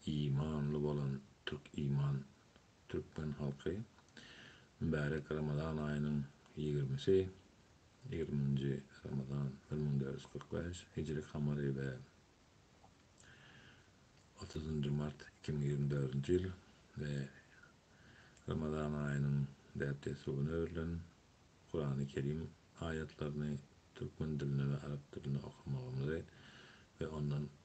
Imanly bolan Türk iman Türkmen halky mübärek Ramazan aýynyň ýigrimisi, ýigriminji Ramazan, bir müň dört ýüz kyrk bäş, hijri kamary we otuzynjy mart, iki müň ýigrimi dördünji ýyl we Ramazan aýynyň däp-dessugyna öwrülen Kurany Kerim aýatlaryny türkmen dilinde we arap dilinde okamagymyzy we ondan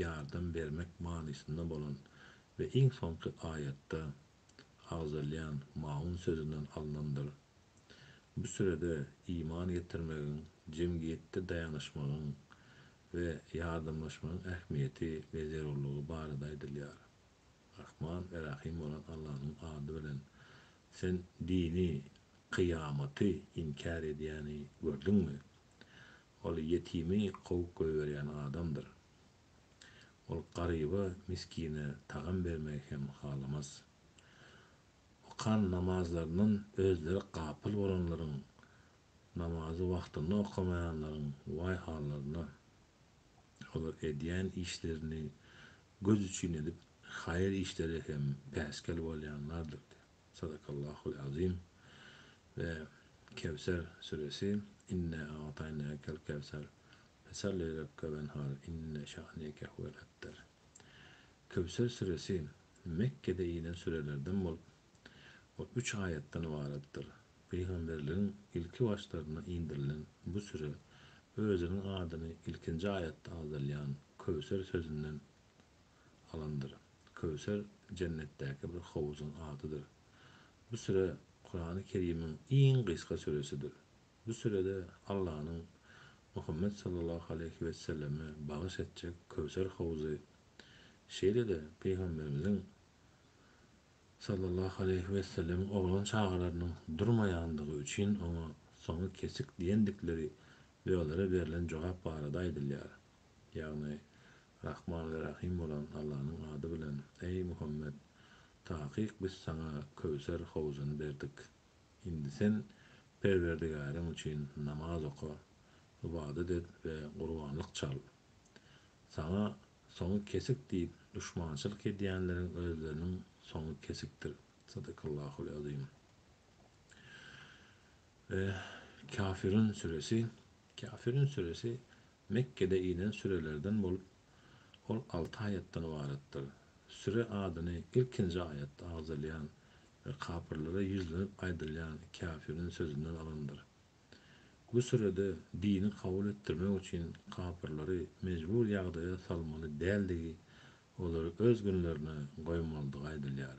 ýardam bermek manysynda bolan we iň soňky aýatda agzalýan maun sözünden alnandyr. Bu sürede iman getirmegiň, jemgyýetde daýanyşmagyň we ýardamlaşmagyň ähmiýeti we zerurlygy barada aýdylýar. Rahman we Rahym bolan Allanyň ady bilen, Sen dini, kyýamaty, inkär edýäni gördüňmi? Ol ýetimi kowup goýberýän adamdyr. Ol garyba, miskine tagam bermegi hem halamaz. Okan namazlaryndan özleri gapyl bolanlaryň, namazy wagtynda okamaýanlaryň waý hallaryna. Olar edýän işlerini göz üçin edip, haýyr işlere hem päsgel bolýanlardyr. Sadakallahul azim we Kewser süresi, Inna a'taýnakel kewser, fesalli li rabbike wenhar, inne şa'neke huwel ebter. Kewser süresi Mekgede inen sürelerden bolup, ol üç aýatdan ybaratdyr. Pygamberligiň ilki başlaryna indirilen bu süre özüniň adyny ilkinji aýatda agzalýan Köwser sözünden alandyr. Köwser jennetdäki bir howzuň adydyr. Bu süre Kurany Kerimiň iň gysga süresidir. Bu sürede Allanyň Muhammet sallallahu aleýhi weselleme bagyş etjek Köwser howzy, şeýle-de Pygamberimiziň sallallahu aleýhi wesellemiň oglan çagalarynyň durmaýandygy üçin oňa soňy kesik diýendikleri we olara berlen jogap barada aýdylýar. Ýagny, Rahman we Rahym bolan Allanyň ady bilen, eý, Muhammet! Takyk biz saňa Köwser howzuny berdik. Indi sen Perwerdigäriň üçin namaz oka, ybadat et we gurbanlyk çal. Saňa soňy kesik diýip duşmançylyk edýänleriň özleriniň soňy kesikdir. Sadakallahul azim. We Kafirun süresi, Kafirun süresi Mekgede inen sürelerden bolup, ol alty aýatdan ybaratdyr. Süre adyny ilkinji aýatda agzalýan we kapyrlara ýüzlenip aýdylýan käfiriň sözünden alandyr. Bu sürede dini kabul etdirmek üçin kapyrlary mejbur ýagdaýa salmaly däldigi, olary öz günlerine goýmalydygy aýdylýar.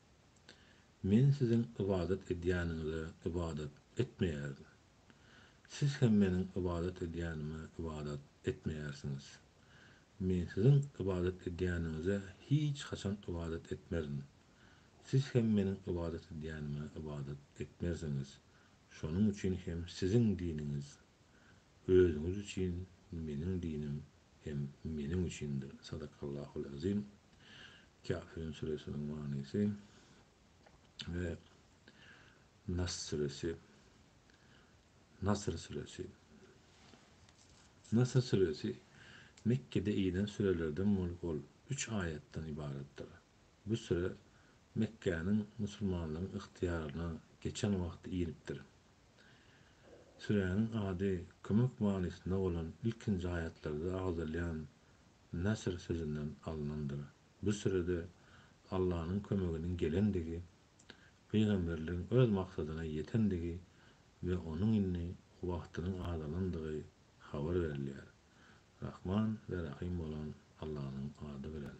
Men siziň ybadat edýäniňize ybadat etmeýärin. Siz hem Meniň ybadat edýänime ybadat etmeýärsiňiz. Men siziň ybadat edýäniňize hiç haçan ybadat etmerin. Siz hem Meniň ybadat edýänime ybadat etmersiňiz. Şonuň üçin hem siziň diniňiz özüňiz üçin, Meniň dinim hem Meniň üçindir. Sadakallahu l-azim. Käfirun süresiniň manysy we Nas süresi, Nasr süresi. Nasr süresi Mekgede inen sürelerden bolup ol üç aýatdan ybaratdyr. Bu süre Mekgäniň musulmanlaryň ygtyýaryna geçen wagty inipdir. Süräniň ady kömek manysynda bolan ilkinji aýatlarda agzalýan Nasr sözünden alnandyr. Bu sürede Allanyň kömeginiň gelendigi, pygamberligiň öz maksadyna ýetendigi we onuň indi wagtynyň azalandygy habar berilýär. Rahman we Rahym bolan Allanyň ady bilen.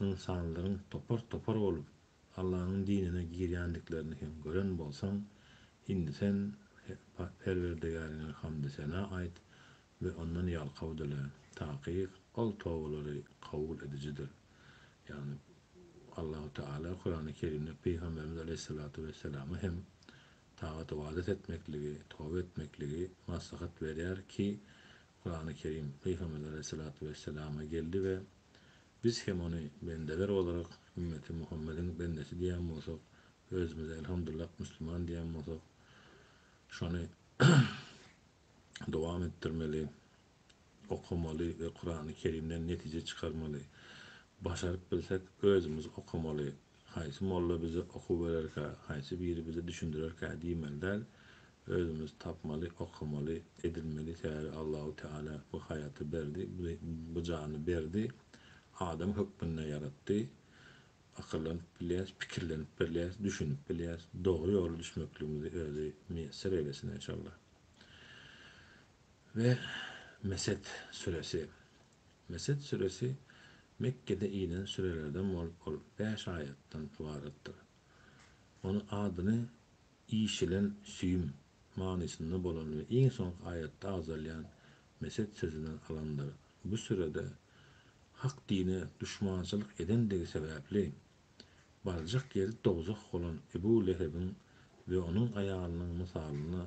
ynsanlaryň topar-topar bolup Allanyň dinine girýändiklerini hem gören bolsaň, indi sen Perwerdigäriňe hamdy-sena aýt we Ondan ýalkaw dile, takyk Ol tobalary kabul edijidir. Ýagny, Allahu Teala Kurany Kerimde Pygamberimiz aleýhissalatu wesselama hem tagat-ybadat etmekligi, toba etmekligi maslahat berýär ki, Kurany Kerim Pygamberimiz aleýhissalatu wesselama geldi we Biz hem ony bendeler olarak ümmeti Muhammediň bendesi diýen bolsak, özümize elhamdullah müsliman diýen bolsak, şony dowam etdirmeli, okamaly we Kurany Kerimden netije çykarmaly. Başaryp bilsek özümiz okamaly, Haýsy molla bize okuw bererkä, haýsy biri bize düşündirerkä diýmeli däl, özümiz tapmaly, okamaly, edinmeli sebäbi Allahu Teala bu haýaty berdi, bu jany berdi, adam hökmünde ýaratdy, akyllanyp bilýäs, pikirlenip bilýäs, düşünip bilýäs, dogry ýola düşmekligimizi özi miýesser eýlesin enşalla. We Mesed süresi Mesed süresi Mekgede inen sürelerden bolup ol bäş aýatdan ybaratdyr. Ony adyny işilen süýüm manysynda bolan we iň soňky aýatda agzalýan Mesed sözünden alandyr. Bu sürede Hak dine duşmançylyk edendigi sebäpli barjak ýeri dowzah bolan Ebu Lehebiň we onuň aýalynyň mysalyna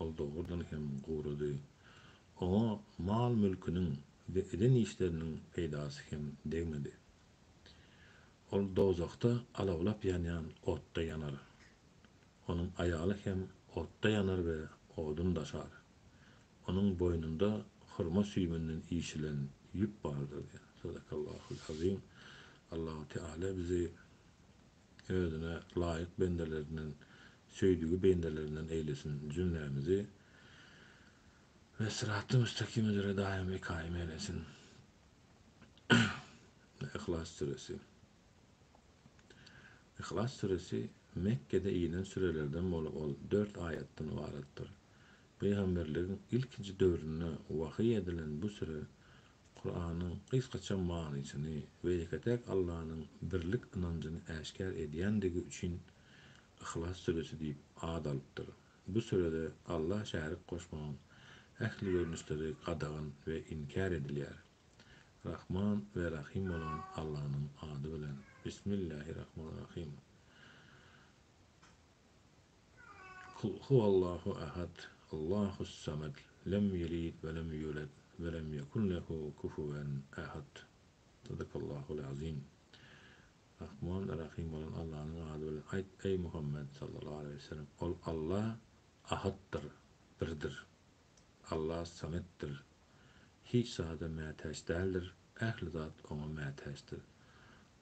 Ol dogrudan hem gurudy. Oňa mal-mülküniň we eden işleriniň peýdasy hem degmedi. Ol dowzahda alawlap ýanýan otda ýanar. Onuň aýaly hem otda ýanar we odun daşar. Onuň boýnunda hurma süýüminden işilen ýüp bardyr diýen. Sadakallahu l-azim. Allahu Teala bizi özüne laýyk bendelerinden, söýdügi bendelerinden eýlesin jümlämizi we syraty müstakim üzre daýymy kaýym eýlesin. Yhlas süresi. Yhlas süresi Mekgede inen sürelerden bolup ol dört aýatdan ybaratdyr. Pygamberligiň ilkinji döwründe wahyý edilen bu süre Kuranyň gysgaça manysyny we ýeke-täk Allanyň birlik ynanjyny äşgär edýändigi üçin Yhlas süresi diýip at alypdyr. Bu sürede Alla şärik goşmagyň ähli görnüşleri gadagan we inkär edilýär. Rahman we Rahym bolan Allanyň ady bilen. Bismillähirrahmanirrahym. Kul huwallahu ahad, Allahus samad, lem ýelid we lem ýulet we lem ýekun lehu kufuwen ahad. Sadakallahul azim. Rahman, Rahym bolan Allanyň ady bilen aýt, eý Muhammet sallallahu aleýhi we sellem, Ol Alla Ahatdyr, Birdir. Alla Sametdir, hiç zada mätäç däldir, ähli zat oňa mätäçdir.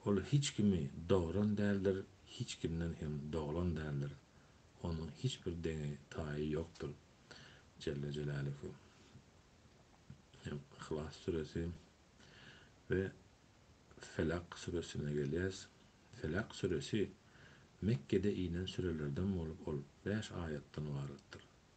Ol hiç kimi dogran däldir, hiç kimden hem doglan däldir. Onuň hiç bir deňi, taýy ýokdur. Jelle jelâluhu. Hem Yhlas süresi we Felak süresine gelýäs. Felak süresi Mekgede inen sürelerden bolup, ol bäş aýatdan ybaratdyr.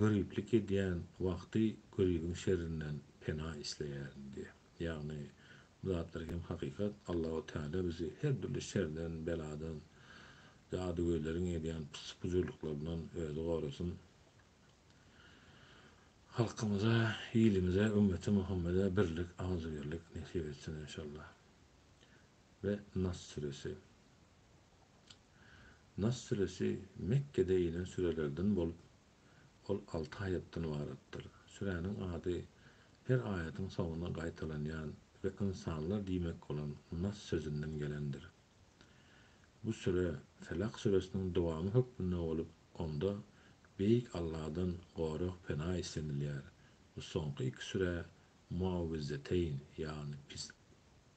Göriplik edýän wagty göribiň şerrinden pena isleýärin diýýär. Ýagny, bu zatlar hem hakykat, Allahu Teala bizi her dürli şerden, beladan, jadygöýleriň edýän pyssy-pujurlyklaryndan özi gorasyn. Halkymyza, ilimize, ümmeti Muhammede birlik, agzybirlik nesip etsin enşalla. Ve Nas Süresi. Nas süresi Mekgede inen sürelerden bolup, ol alty aýatdan ybaratdyr. Süräniň ady her aýatyň soňuna gaýtalanýan we ynsanlar diýmek bolan Nas sözünden gelendir. Bu süre Felak süresiniň dowamy hökmünde bolup, onda Beýik Allahdan gorag-pena islenilýär we soňky iki sürä Muawwizzeteýn, ýagny pis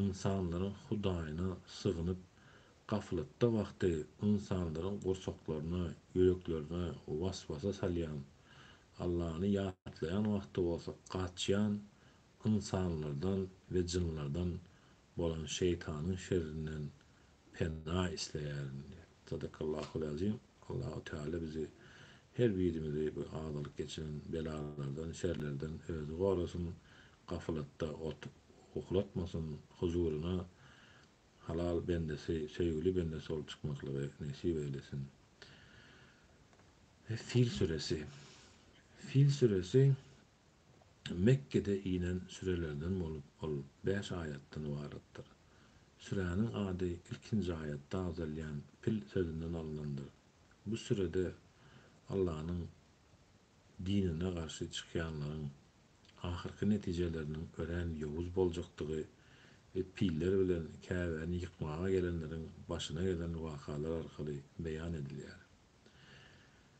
ynsanlaryň Hudaýyna sygynyp, gaflatda wagty ynsanlaryň gursaklaryna, ýüreklerine was-wasa salýan, Allany ýatlaýan wagty bolsa gaçýan ynsanlardan we jynlardan bolan şeýtanyň şerrinden pena isleýärin diýip. Sadakallahul azim. Allahu Teala bizi her birimizi bu agalyk geçiren belalardan, şerlerden özi gorasyn, gafylatda otup uhlatmasyn, huzuryna halal bendesi, söýgüli bendesi bolup çykmaklygy nesip eýlesin. Fil süresi. Fil süresi Mekgede inen sürelerden bolup, ol bäş aýatdan ybaratdyr. Süräniň ady ilkinji aýatda agzalýan Fil sözünden alnandyr. Bu sürede Allanyň dinine garşy çykýanlaryň ahyrky netijeleriniň örän ýowuz boljakdygy we piller bilen Käbäni ýykmaga gelenleriň başyna gelen wakalar arkaly beýan edilýär.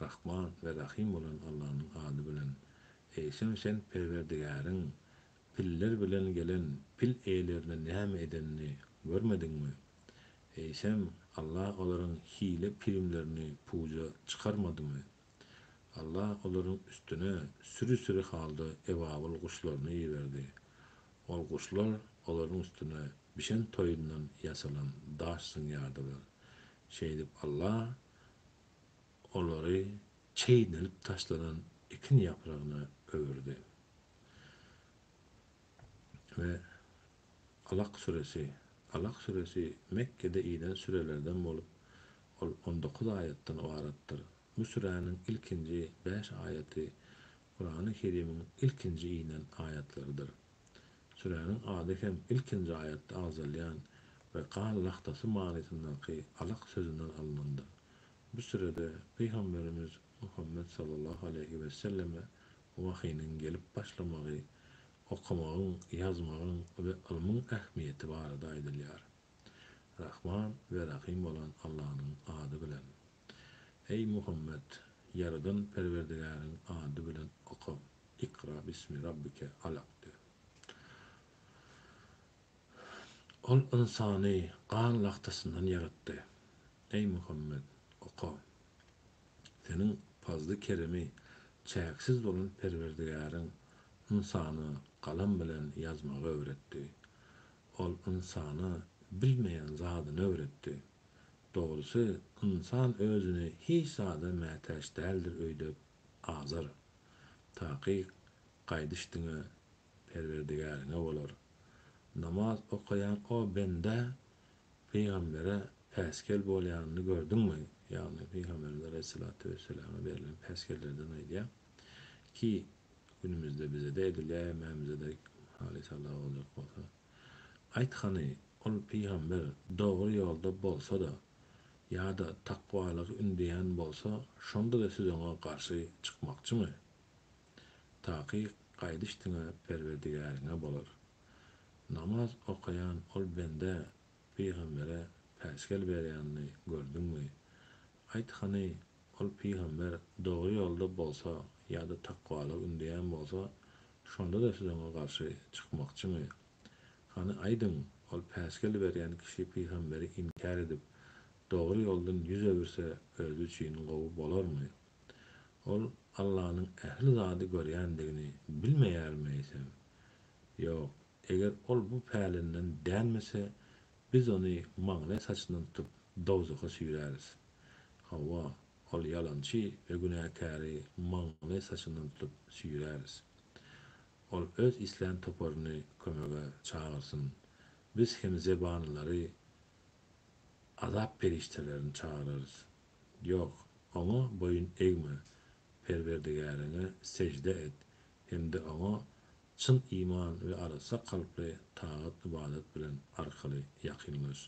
Rahman we Rahym bolan Allanyň ady bilen. Eýsem sen Perwerdigäriň piller bilen gelen pil eýelerine näme edenini görmediňmi? Eýsem, Alla olaryň hile-pirimlerini puja çykarmadymy? Alla olaryň üstüne süri-süri halda ebabyl guşlaryny iberdi. Ol guşlar olaryň üstüne bişen toýundan ýasalan daş zyňýardylar. Şeýdip Alla olary çeýnelip taşlanan ekin ýapragyna öwürdi we Alak süresi, Alak süresi Mekgede inen sürelerden bolup, ol on dokuz aýatdan ybaratdyr. Bu süräniň ilkinji bäş aýaty Kurany Kerimiň ilkinji inen aýatlarydyr. Süräniň ady hem ilkinji aýatda agzalýan we gan lagtasy manysyndaky alak sözünden alnandyr. Bu sürede Pygamberimiz Muhammet sallallahu aleýhi wesselleme wahynyň gelip başlamagy, okamagyň, ýazmagyň we ylmyň ähmiýeti barada aýdylýar. Rahman we Rahym bolan Allanyň ady bilen. Eý, Muhammet, Ýaradan Perwerdigäriň ady bilen oka, Ikra bismi rabbike alak de. Ol ynsany gan lagtasyndan ýaratdy. Eý, Muhammet, oka! Seniň pazly-keremi çäksiz bolan Perwerdigäriň ynsana galam bilen ýazmagy öwretdi. Ol ynsana bilmeýän zadyny öwretdi. Dogrusy, ynsan özüni hiç zada mätäç däldir öýdüp, azar. Takyk gaýdyş diňe Perwerdigäriňe bolar. Namaz okaýan o bendä pygambere päsgel bolýanyny gördüňmi? Ýagny, pygamberimiz alaýhyssalatu wesselama berlen päsgellerden aýdýar. Ki günümizde bizede edilýä hemmämizede haly sala boljak bolsa. Aýt hany ol pygamber dogry ýolda bolsada ýada takwalygy ündeýän bolsa şondada siz oňa garşy çykmakçymy? Takyk gaýdyş diňe perwerdigäriňe bolar. Namaz okaýan ol bendä pygambere päsgel berýänini gördüňmi? Aýt hany, ol pygamber dogry ýolda bolsa ýa-da takwalygy ündeýän bolsa, şonda-da siz oňa garşy çykmakçymy? Hany aýdyň, ol päsgel berýän kişi pygamberi inkär edip, dogry ýoldan ýüz öwürse özi üçin gowy bolarmy? Ol Allanyň ähli zady görýändigini bilmeýärmi eýsem? Ýok, Eger ol bu pälinden dänmese, biz ony maňlaý saçyndan tutup, dowzaha süýräris. Hawa, ol ýalançy we günäkäri maňlaý saçyndan tutup süýräris. Ol öz islän toparyny kömege çagyrsyn. Biz hem zebanylary, azap perişdelerini çagyrarys. Ýok, oňa boýun egme. Perwerdigäriňe sežde et. hem-de Oňa çyn iman we arassa kalply tagat-ybadat bilen arkaly ýakynlaş.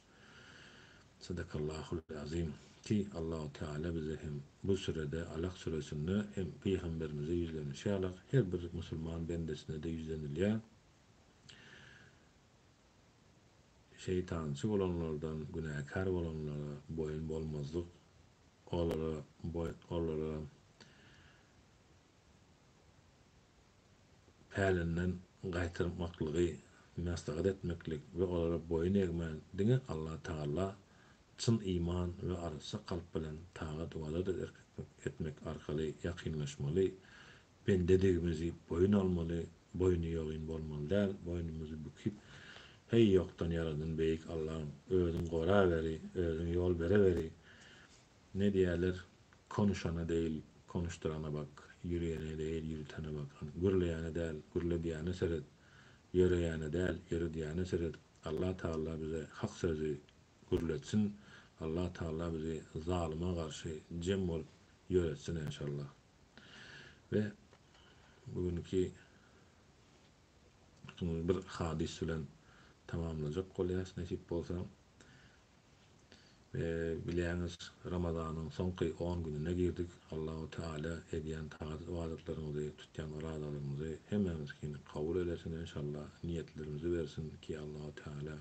Sadakallahul azim. Ki, Allahu Teala bize hem bu sürede, Alak süresinde hem pygamberimize ýüzlenişi ýaly her bir musulman bendesine-de ýüzlenilýär, Şeýtançy bolanlardan, günäkär bolanlara boýun bolmazlyk, olara boýun, olara pälinden gaýtarmaklygy maslahat etmeklik we olara boýun egmän diňe Alla Tagala çyn iman we arassa kalp bilen tagat ybadat etmek arkaly ýakynlaşmaly, bendedigimizi boýun almaly, boýny ýogyn bolmaly däl, boýnumyzy bükip, heý ýokdan ýaradyn beýik Allam, özüň goraweri, özüň ýol bereweri, Ne diýerler, konuşana degil, konuşdyrana bak, ýüriýene degil, ýüritene bak. Hany, gürleýäne däl, gürledýäne seret, ýöreýäne däl, ýöredýäne seret. Allah Tagala bize hak sözi gürletsin, Allah Tagala bizi zalyma garşy jem bolup ýöretsin enşallah. We bu günki bir hadys bilen tamamlajak bolýas nesip bolsa. Bilýäňiz, Ramazanyň soňky on gününe girdik. Allahu Teala edýän tagat-ybadatlarymyzy, tutýan orazalarymyzy hemmämiziňkini kabul eylesin enşalla, niýetlerimizi bersin ki Allahu Teala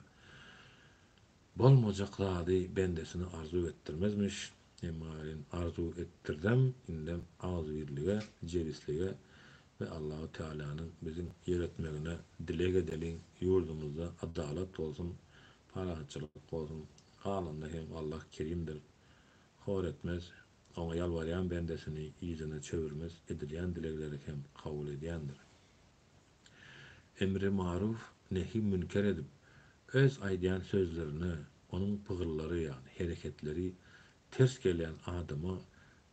bolmajak zady bendesine arzuw etdirmezmiş, emma welin arzuw etdirdem indem agzybirlige, jebislige we Allahu Tealanyň biziň ýöretmegine dileg edeliň, ýurdumyzda adalat bolsun, Parahatçylyk bolsun. Galanda hem Allah kerimdir. Hor etmez. Oňa ýalbarýan bendesini yzyna çöwürmez, edilýän dilegleri hem kabul edýändir. Emri maruf, nehi münker edip, öz aýdýan sözlerine, onuň pygyllary ýagny hereketleri ters gelýän adama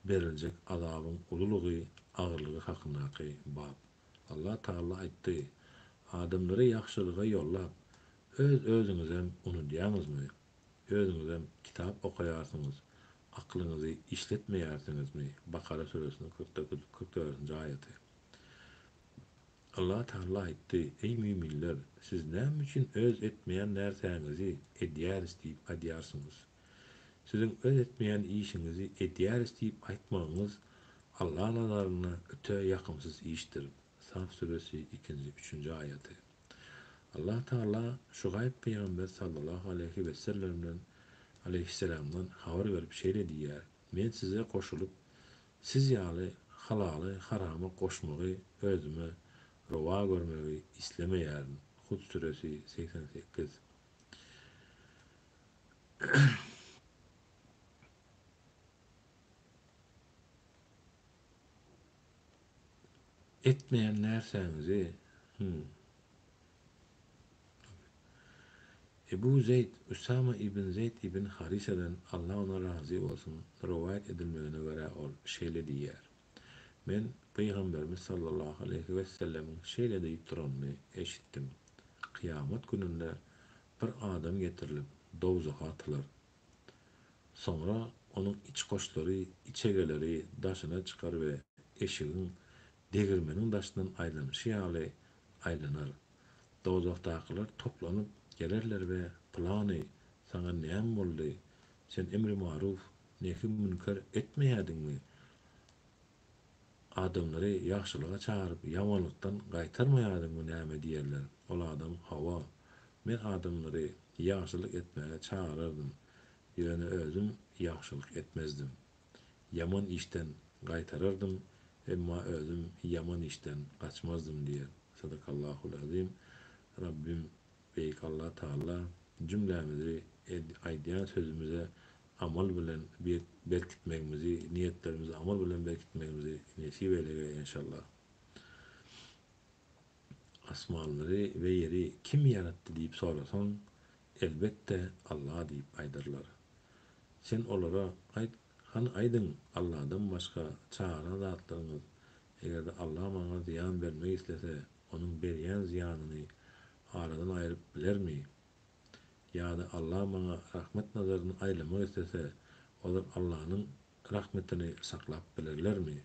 beriljek azabyň ululygy, agyrlygy hakyndaky bap. Allah Taala aýtdy, Adamlary ýagşylyga ýollap, öz özüňizem unudýaňyzmy? Özüňizem kitap okaýarsyňyz, aklyňyzy işletmeýärsiňizmi? Bakara süresiniň kyrk dokuz, kyrk dördünji aýaty. Allah Taala aýtdy, Eý müminler, siz näme üçin öz etmeýän närsäňizi edýäris diýip aýdýarsyňyz? Siziň öz etmeýän işiňizi edýäris diýip aýtmagyňyz Alla nazarynda öte ýakymsyz işdir, Saf suresi ikinji, üçünji aýaty. Allah Tagala Şugaýb pygamber sallallahu aleýhi wessellemden, aleýhisselamdan, habar berip şeýle diýýär, Men size goşulyp, siz ýaly halaly harama goşmagy özüme rowa görmegi islemeýärin, Hud suresi, segsen sekiz. Etmeýän närsäňizi? Hum. Ebu Zeýd, Usama ibn Zeýd ibn Harisadan, Allah ondan razy bolsun, rowaýat edilmegine görä ol şeýle diýýär, Men Pygamberimiz sallallahu aleýhi wessellemiň şeýle diýip duranyny eşitdim, Kyýamat gününde bir adam getirilip, dowzaha atylar. Soňra onuň içgoşlary, içegeleri daşyna çykar we eşigiň degirmeniň daşyndan aýlanyşy ýaly aýlanar. Dowzahdakylar toplanyp gelerler we, Pylany, saňa näme boldy? Sen emri-maruf, Nehy-münker etmeýädiňmi? Adamlary ýagşylyga çagyryp, ýamanlykdan gaýtarmaýadyňmy? Näme diýerler? Ol adam, Hawa, men adamlary ýagşylyk etmäge çagyrardym, ýöne özüm ýagşylyk etmezdim. Ýaman işden gaýtarardym, emma özüm ýaman işden gaçmazdym diýer. Sadakallahul-azim. Rabbim Beýik Allah Taala jümlämizi aýdýan sözümize amal bilen berkitmegimizi, niýetlerimizi amal bilen berkitmegimizi nesip eylege enşallah. Asmanlary we ýeri kim ýaratdy diýip sorasaň, elbetde Allah diýip aýdarlar. Sen olara aýt, hany aýdyň Allahdan başga çagyran zatlaryňyz, eger-de Allah maňa zyýan bermek islese, Onuň berýän zyýanyny aradan aýryp bilermi? Ýa-da Allah maňa rahmet nazaryny aýlamak islese, olar Allanyň rahmetini saklap bilerlermi?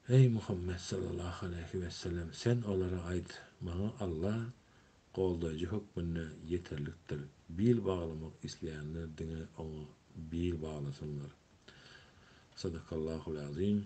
Eý, Muhammet sallallahu aleýhi wesellem! Sen olara aýt, Maňa Allah goldaýjy hökmünde ýeterlikdir. Bil baglamak isleýänler diňe Oňa bil baglasynlar. Sadakallahul azim.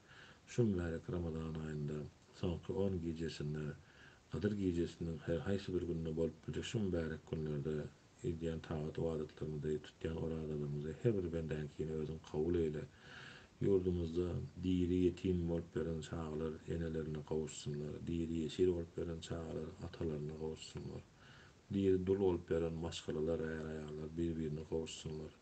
Şu mübärek Ramazan aýynda soňky on gijesinde, Gadyr gijesiniň her haýsy bir gününde bolup biljek şu mübärek günlerde edýän tagat-ybadatlarymyzy, tutýan orazalarymyzy her bir bendäňkini Özüň kabul eýle. Ýurdumyzda diri ýetim bolup ýören çagalar enelerine gowuşsynlar, diri ýesir bolup ýören çagalar atalaryna gowuşsynlar, diri dul bolup ýören maşgalalar, är-aýallar bir-birine gowuşsynlar.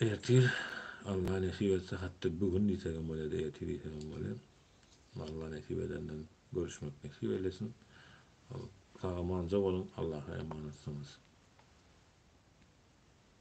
Ertir Alla nesip etse hatda bu gün diýsegem bolar ýa-da ertir diýsegem bolar. Alla nesip edenden görüşmek nesip eylesin. Sag-amanja boluň, Allaha emanatsyňyz.